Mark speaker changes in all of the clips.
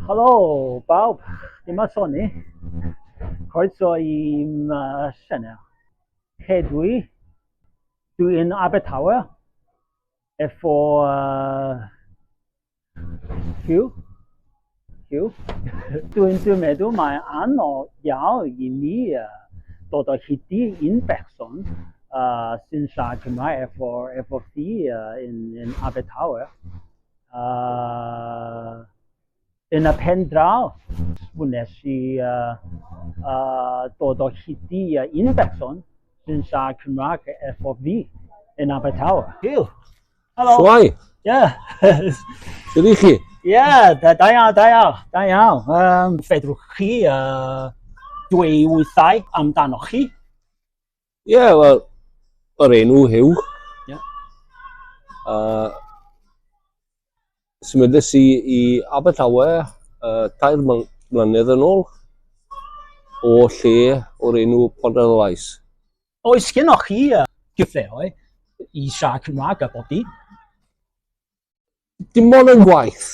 Speaker 1: Helo bawb, dyma Soni. Croeso i'm uh, sianel. Hedwi, dwi yn Abertawe, efo uh, Hugh. Hugh. Dwi'n dwi meddwl mae anodd iawn i mi uh, dod o hyd i un person uh, sy'n siarad Cymraeg efo, efo fi uh, yn, yn Abertawe. Uh, yn y pen draw, wnes i uh, uh, dod o hyd i uh, un person sy'n siarad Cymraeg efo fi yn Abertawe. Hugh. Helo. Shwai?
Speaker 2: Ie. Sut ych chi? Ie, da da iawn,
Speaker 1: da iawn, da iawn. Um, fedrwch chi uh, dweud wythau amdanoch chi?
Speaker 2: Ie, yeah, wel, yr enw Hugh. Ie.
Speaker 1: Yeah.
Speaker 2: Uh, symudus i, i Abertawe uh, tair mlynedd yn ôl o lle o'r enw Ponderlais. Oes
Speaker 1: gennych chi gyfleoedd i siarad Cymraeg a bod dim? Dim
Speaker 2: ond yn gwaith.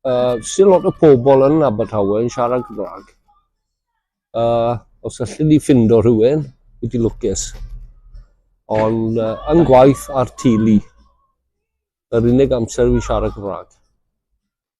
Speaker 2: Uh, Sy'n lot o pobl yn Abertawe yn siarad Cymraeg. Uh, os allu ni ffindo rhywun, wedi lwcus. Ond uh, yn gwaith ar tili. Yr unig amser fi'n siarad Cymraeg.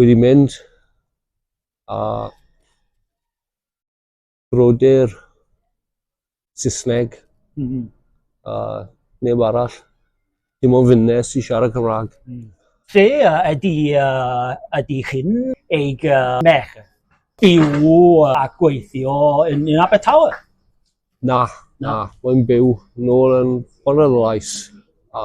Speaker 2: wedi mynd a brodyr Saesneg mm -hmm. a neb arall. Dim ond fynne sy'n siarad Cymraeg. Mm. Se uh,
Speaker 1: ydy, uh, ydy chi'n eich uh, mech byw a gweithio yn, yn Abertawe? Na, na,
Speaker 2: na. mae'n byw nôl yn Bonrelais a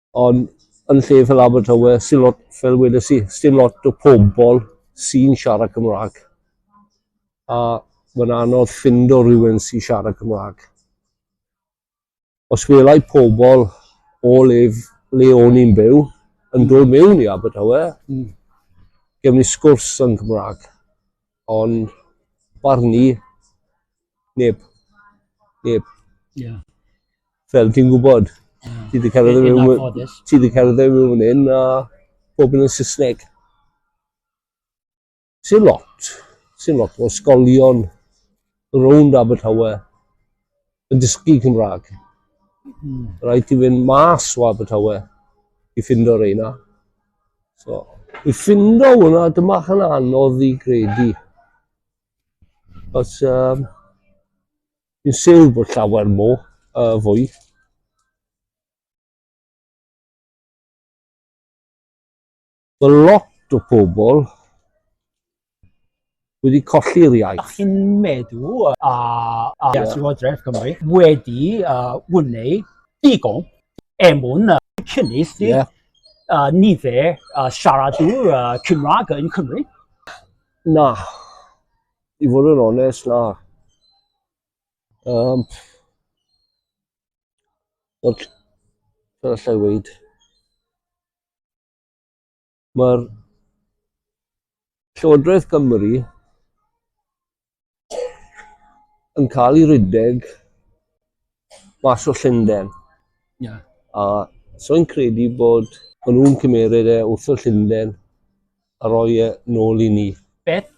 Speaker 2: Ond yn lle fel Abertawe, sy'n lot, fel wedes i, sy'n lot o pobl sy'n siarad Cymraeg. A mae'n anodd ffind o rhywun sy'n siarad Cymraeg. Os welai pobl o le, le o'n i'n byw yn dod mewn i Abertawe, mm. gefn ni sgwrs yn Cymraeg. O'n barn i, neb. Neb. Ie. Fel ti'n gwybod, ti wedi cerdded Yn mewn... anffodus. Ti wedi cerdded mewn fan hyn a bob yn yn Saesneg. Sy'n lot. Sy'n lot o ysgolion rownd Abertawe Yn dysgu Cymraeg. Mm. Rhaid ti fynd mas o Abertawe i ffindo reina. So, i ffindo hwnna, dyma hynna anodd i gredu. Os, um, fi'n siw bod llawer mo, uh, fwy. Mae lot o pobl wedi colli'r iaith. Ydych chi'n meddwl
Speaker 1: a Llywodraeth Cymru wedi gwneud digon er mwyn cynnydd nifer y siaradwyr Cymraeg yn Cymru? Na.
Speaker 2: I fod yn onest, na. Um, fel allai weid? Mae'r Llywodraeth Cymru yn cael ei rhedeg mas o Llundain. Yeah. A so i'n credu bod maen nhw'n cymeryd e wrth y Llundain a roi e nôl i ni. Beth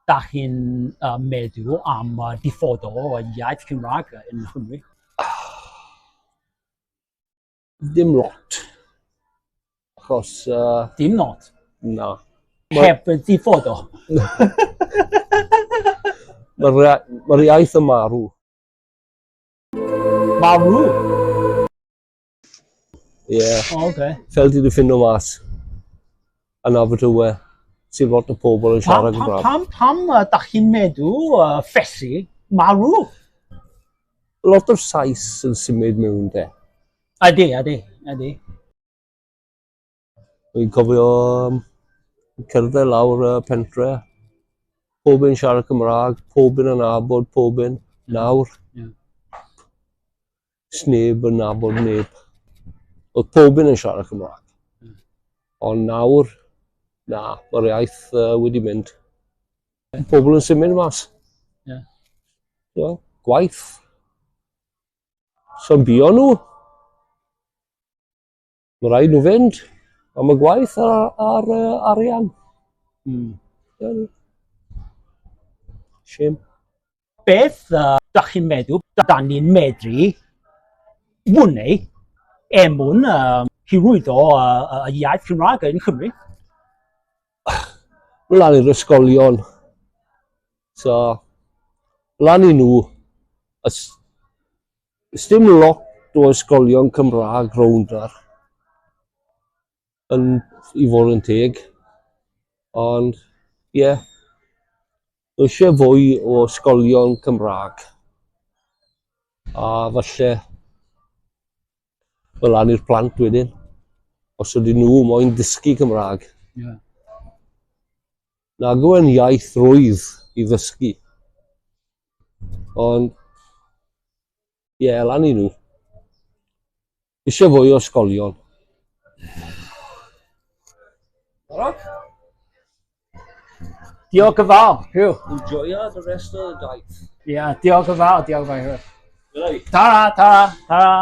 Speaker 2: da
Speaker 1: chi'n uh, meddwl am uh, diffodo o iaith Cymraeg yn Nghymru?
Speaker 2: Dim lot. Achos... Uh... Dim
Speaker 1: lot? Na.
Speaker 2: Heb y
Speaker 1: diffod o?
Speaker 2: Mae'r iaith yn marw.
Speaker 1: Marw?
Speaker 2: Ie. Yeah. O, oh, oce. Okay. Fel
Speaker 1: ti di ffindio mas.
Speaker 2: yn Abertawe sy'n lot o pobl yn siarad Gymraeg. Pam, pam, pam uh, da chi'n
Speaker 1: meddwl uh, ffesi marw?
Speaker 2: Lot o'r Sais yn symud mewn de. Adi, adi,
Speaker 1: adi.
Speaker 2: Dwi'n cofio um, cerdded lawr y pentre, pob yn siarad Cymraeg, pob yn anabod, pob yn nawr. Yeah. Sneb yn nabod neb. Oedd pob un yn siarad Cymraeg. Hmm. Ond nawr, na, mae'r iaith uh, wedi mynd. Yeah. Pobl yn symud mas. Yeah. Yeah. Gwaith. Sy'n bio nhw. Mae'n rhaid nhw fynd am y gwaith a'r, ar, arian. Mm. Yeah. Shame. Beth uh,
Speaker 1: da chi'n meddwl, da ni'n medru wneud er mwyn um, hyrwyddo y uh, uh, iaith Cymraeg yn Cymru?
Speaker 2: Wel, ar yr ysgolion. So, lan i nhw, Does dim lot o ysgolion Cymraeg rownd ar yn i fod yn teg ond ie yeah, eisiau fwy o ysgolion Cymraeg a falle fel lan i'r plant wedyn os ydyn nhw moyn dysgu Cymraeg. Yeah. Nag yw e'n iaith rwydd i ddysgu. Ond, ie, yeah, lan i nhw. Eisiau fwy o ysgolion. Rock?
Speaker 1: Diolch yn fawr, Hugh. Enjoya the rest
Speaker 2: of the daith.
Speaker 1: Ie,
Speaker 2: yeah, diolch
Speaker 1: yn fawr,
Speaker 2: diolch yn
Speaker 1: fawr.
Speaker 2: Tara,
Speaker 1: tara,
Speaker 2: tara.